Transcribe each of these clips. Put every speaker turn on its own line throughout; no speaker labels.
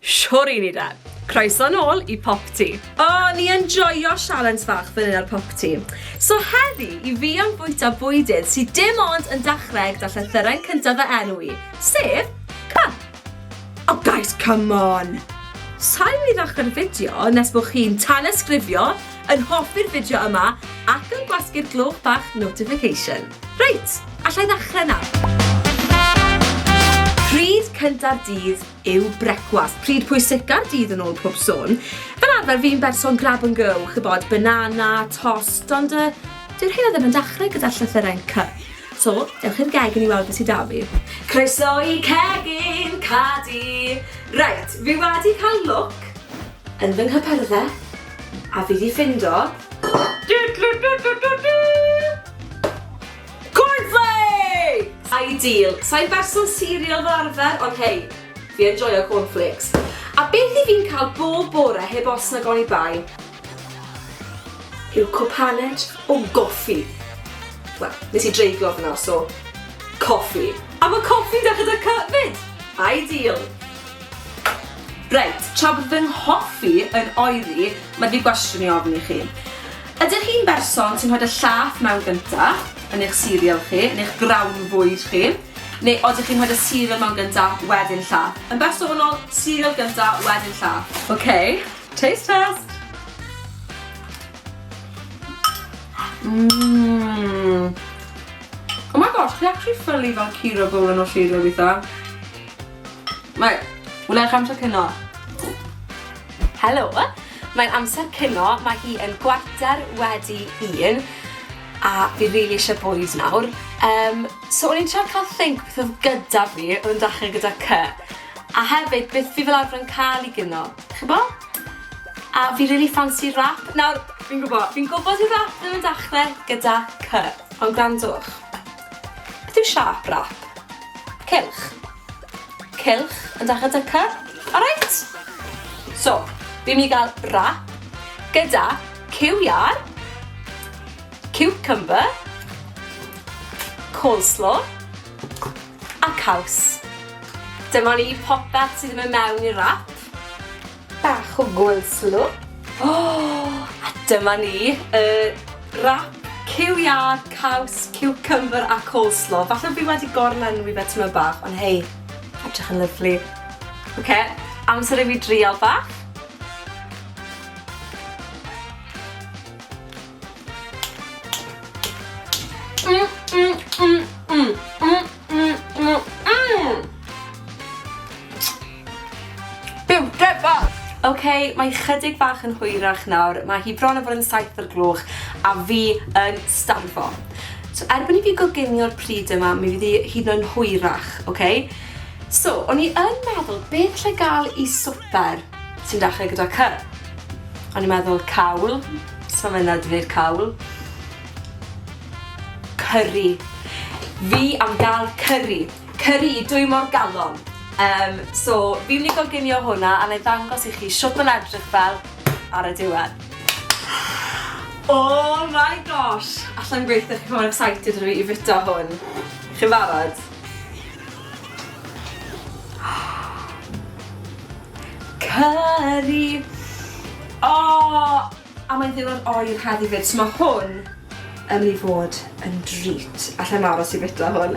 Shwr i ni de! Croeso nôl i Popty! O, ni yn joio sialens fach fan hyn ar Popty. So heddi, i fi am fwyta bwydydd sy dim ond yn dachreg da llythyren cynta fy enw i, sef Cy! O guys, come on! Sa'i myn i ddachre'r fideo nes bo chi'n tanysgrifio, yn hoffi'r fideo yma, ac yn gwasgu'r gloch bach notification. Reit, allai ddachre nawr. Pryd cynta'r dydd yw brecwast. Pryd pwyseca'r dydd yn ôl pob sôn. Fel arfer fi'n berson grab and go, chybod, banana, tost, ond uh, dyw'r hyn o ddim yn dechrau gyda'r llythyrau'n cy. So, dewch i'r gegin i weld beth sydd da fi. Croeso i cegin Cadi! Reit, fi wedi cael look yn fy nghypyrdde a fi wedi ffindo... Cornflakes! Ideal! Sai'n berson cereal fel arfer, ond hei, fi yn joio cornflakes. A beth i fi'n cael bob bore heb os nag oni bai yw cwpaned o goffi. Wel, nes i dreiglo fy na, so coffi. A mae coffi da gyda cy fyd! Ideal! Reit, tra bod fy nghoffi yn oeri, mae fi gwestiwn i ofyn i chi. Ydych chi'n berson sy'n rhoid y llaeth mewn gynta yn eich cereal chi, yn eich grawn fwyd chi, neu odych chi'n rhoid y cereal mewn gynta, wedyn llaeth? Yn bersonol, cereal gynta, wedyn llaeth. Ok, taste test! Mmm! Oh my gosh, chi actually ffylu fel cereal bowl yn y cereal weitha. Mae, wna eich amser cino. Helo, mae'n amser cino, mae hi yn gwarter wedi un, a fi rili really eisiau bwyd nawr. Um, so o'n i'n trio cael think beth oedd gyda fi, oedd yn dachrau gyda cy. A hefyd, beth fi fel arfer yn cael i gyno, chi'n bo? A fi rili really fancy rap. Nawr, fi'n gwybod, fi'n gwybod i rap ddim yn dachrau gyda cy, ond gwrandwch. Beth yw siâp rap? Cylch. Cylch yn dach a dyca. Alright? So, fi'n mynd i gael rap gyda cyw iar, cucumber, coleslaw a caws. Dyma ni popeth sydd yn mynd mewn i'r rap. Bach o gwylslw. O! A dyma ni, y wrap cyw iâr, caws, ciwcymbyr a coleslaw. Falle fi wedi gorlenwi fe tyma bach, ond hei, edrych yn lyfli. Oce, amser i fi drial bach. Byw! Get back! Ok, mae chydig bach yn hwyrach nawr, mae hi bron a bod yn saith o'r gloch a fi yn starfo. So erbyn i fi goginio'r pryd yma, mi fydd hi hyd yn oed hwyrach, ok? So, o'n i yn meddwl beth allai gael i swper sy'n dechrau gyda cy. O'n i'n meddwl cawl, so mae'n dda dweud cawl. Curry. Fi am gael curry. Cyri, dwi mor galon! Yym, so, fi'n mynd i goginio hwnna a 'na i ddangos i chi shwt ma'n edrych fel ar y diwedd. Oh my gosh! Allai'm gweithio, chi mor excited â fi i fita hwn. Chi'n barod? Cyri! Oh! A mae'n ddiwrnod oer heddi fyd, so mae hwn yn mynd i fod yn drît. Alla i'n aros i fita hwn.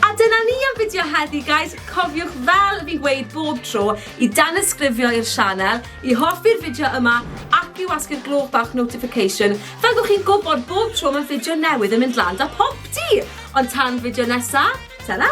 A dyna ni am fideo heddi, guys. Cofiwch fel fi'n gweud bob tro i danysgrifio i'r sianel, i hoffi'r fideo yma ac i wasgu'r gloch bach notification fel bod chi'n gwybod bob tro mae fideo newydd yn mynd lan da popty! Ond tan fideo nesa, ta-ra!